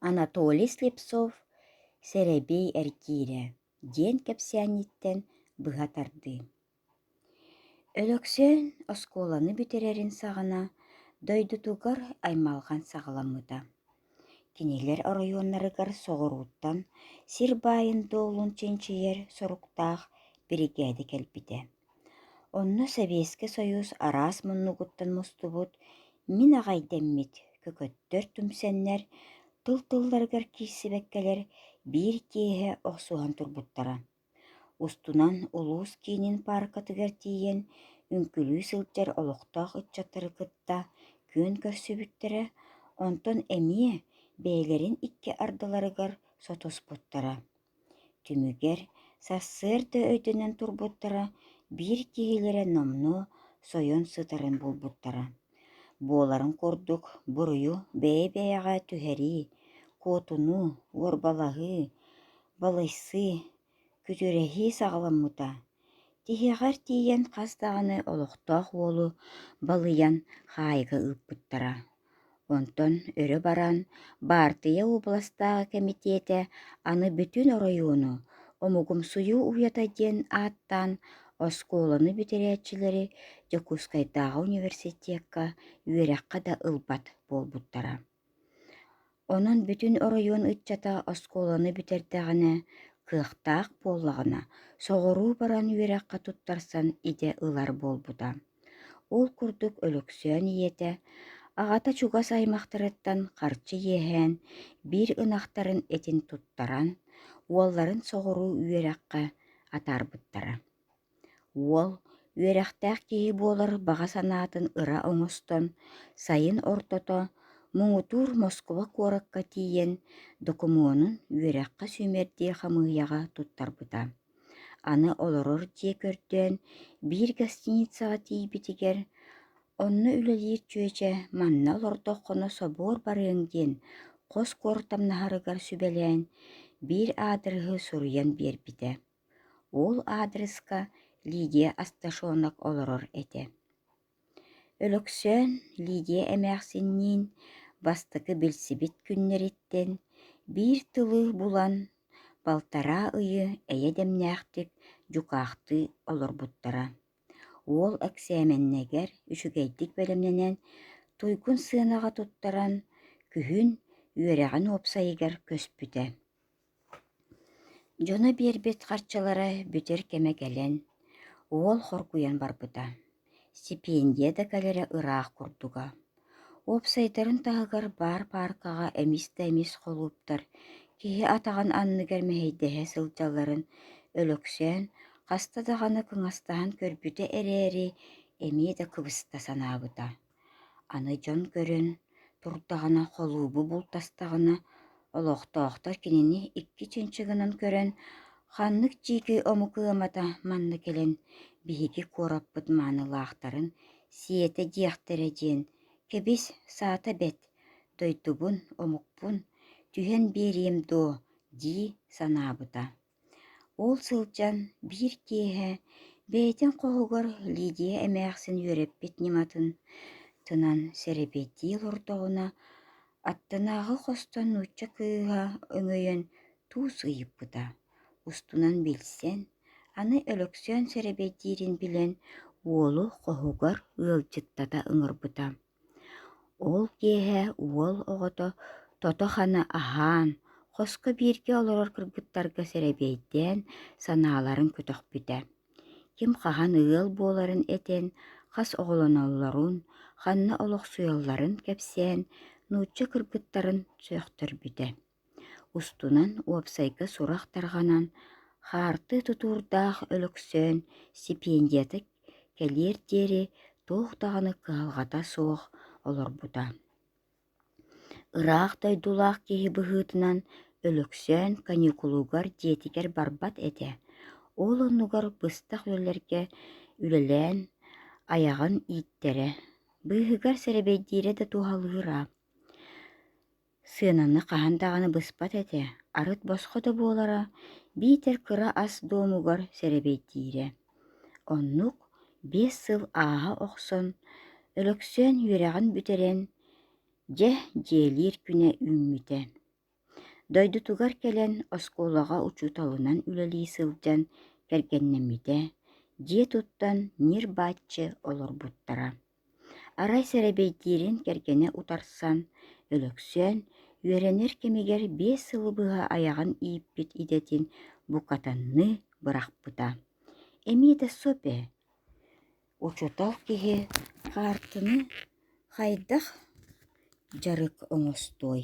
Анатолий Слепцов «Сэрэбиэй эргиирэ» диэн кэпсээнниттэн быһа тардыы. Өлөксөөн оскуоланы бүтэрэрин саҕана дойдутугар аймалҕан саҕаламмыта. Кинилэр оройуоннарыгар соҕурууттан сир баайын-дуолун чинчийэр соруктаах биригээдэ кэлбитэ. Онно Сэбиэскэй Сойуус араас муннугуттан мустубут, мин аҕайдэммит көкөттөр түмсэннэр, тыл тылларыгар киирсибэккэлэр биир киэһэ охсуһан турбуттара. Устунан улуус киинин пааркатыгар тиийэн үҥкүлүү сылдьар олохтоох ыччаттары кытта күөн көрсүбүттэрэ, онтон эмиэ бэйэлэрин икки ардыларыгар сотуспуттара Түмүгэр сарсыарда өйтөнөн турбуттара биир киһилэрэ номнуо сойон сытарын булбуттара буоларын курдук буруйу бэйэ-бэйэҕэ түһэрии, куотунуу, уорбалаһыы, балыйсыы, күтүрэһии саҕаламмыта Тиһэҕэр тиийэн хас даҕаны олохтоох уолу балыйан хаайга ыыппыттара. Онтон өрө баран баартыйа уобаластааҕы кэмитиэтэ аны бүтүн оройуону «Омугумсуйуу уйата» диэн ааттаан оскуоланы бүтэрээччилэри Дьокуускайдааҕы университекка үөрэххэ да ылбат буолбуттара Онон бүтүн оройуон ыччата оскуоланы бүтэрдэҕинэ кыахтаах буоллаҕына, соҕуруу баран үөрэххэ туттарсан идэ ылар буолбута. Ол курдук Өлөксөөн ийэтэ аҕата чугас аймахтарыттан харчы иэһээн биир ынахтарын этин туттаран, уолларын соҕуруу үөрэххэ атаарбыттара. Уол, үөрэхтээх киһи буолар баҕа санаатын ыра оҥостон, сайын ортото муҥутуур Москуба куоракка тиийэн, докумуонун үөрэххэ сүүмэрдиир хамыыһыйаҕа туттарбыта. Аны олорор дьиэ көрдөөн, биир гостиницаҕа тиийбитигэр, «Онно үлэлиир чүөчэ манна олордоххуна собуор барыаҥ» диэн хос куортамнаһарыгар сүбэлээн, биир аадырыһы суруйан биэрбитэ Уол аадырыска Лидия Асташонок олорор этэ Өлөксөөн Лидия эмээхсинниин бастакы билсибит күннэриттэн биир тылы булан, балтараа ыйы эйэ дэмнээхтик дьукаахтыы олорбуттара. Уол эксээмэннэгэр үчүгэйдик бэлэмнэнэн, туйгун сыанаҕа туттаран, күһүн үөрэҕин уопсайыгар көспүтэ Дьоно биэрбит харчылара бүтэр кэмэ кэлэн, уол хоргуйан барбыта, сипиэндийэ да кэлэрэ ыраах курдуга. Уопсайдарын таһыгар баар пааркаҕа эмис да эмис холууптар киһи атаҕын анныгар мэһэйдэһэ сылдьалларын өлөксөөн, хаста даҕаны кыҥастаһан көрбүтэ эрээри, эмиэ да кыбыста санаабыта Аны дьон көрөн турдаҕына, холуобу бултастаҕына, олохтоохтор кинини икки чынчыгынан көрөн, ханнык дьиикэй омук ыамата манна кэлэн биһиги куораппыт маанылаахтарын сиэтэ диэхтэрэ диэн, кэбис, саата бэт, дойдубун, омукпун түһэн биэриэм дуо дии санаабыта Ол сылдьан биир киэһэ бэйэтин хоһугар Лидия эмээхсин үөрэппит ньыматын тынан сэрэпиэддии олордоҕуна, аттынааҕы хостон нуучча кыыһа өҥөйөн туус ыйыппыта, устунан билсэн, аны Өлөксөөн сэрэбиэйдиирин билэн, уолу хоһугар ыалдьыттата ыҥырбыта Ол киэһэ уол оҕото тото-хана аһаан, хоско бииргэ олорор кыргыттарга сэрэбиэйдээн санааларын көтөхпүтэ. Ким хаһан ыал буоларын этэн, хас оҕолоноллорун, ханна олохсуйалларын кэпсээн, нуучча кыргыттарын сөхтөрбүтэ Устунан уопсайга сурах тарҕанан, хаартыы тутуурдаах Өлөксөөн сипиэндийэтэ кэлиэр диэри туох даҕаны кыһалҕата суох олорбута. Ыраах дойдулаах киһи быһыытынан Өлөксөөн каникулугар дьиэтигэр барбат этэ, ол оннугар быстах үлэлэргэ үлэлээн айаҕын ииттэрэ, быыһыгар сэрэбэйдиирэ да туһалыыра. Сыананы хаһан даҕаны быспат этэ, арыт босхо да буолара, биитэр кыра ас дуомугар сэрэбиэйдиирэ. Оннук биэс сыл ааһа охсон, Өлөксөөн үөрэҕин бүтэрэн, дьэ, дьиэлиир күнэ үүммүтэ. Дойдутугар кэлэн оскуолаҕа учууталынан үлэлии сылдьан кэргэннэммитэ, дьиэ туттан ньир-бачча олорбуттара. Арай сэрэбиэйдиирин кэргэнэ утарсан, Өлөксөөн үөрэнэр кэмигэр биэс сыл быһа айаҕын ииппит идэтин букатанныы бырахпыта. Эмиэ да соп ээ, оччотоох киһи хаартыны хайдах дьарык оҥостуой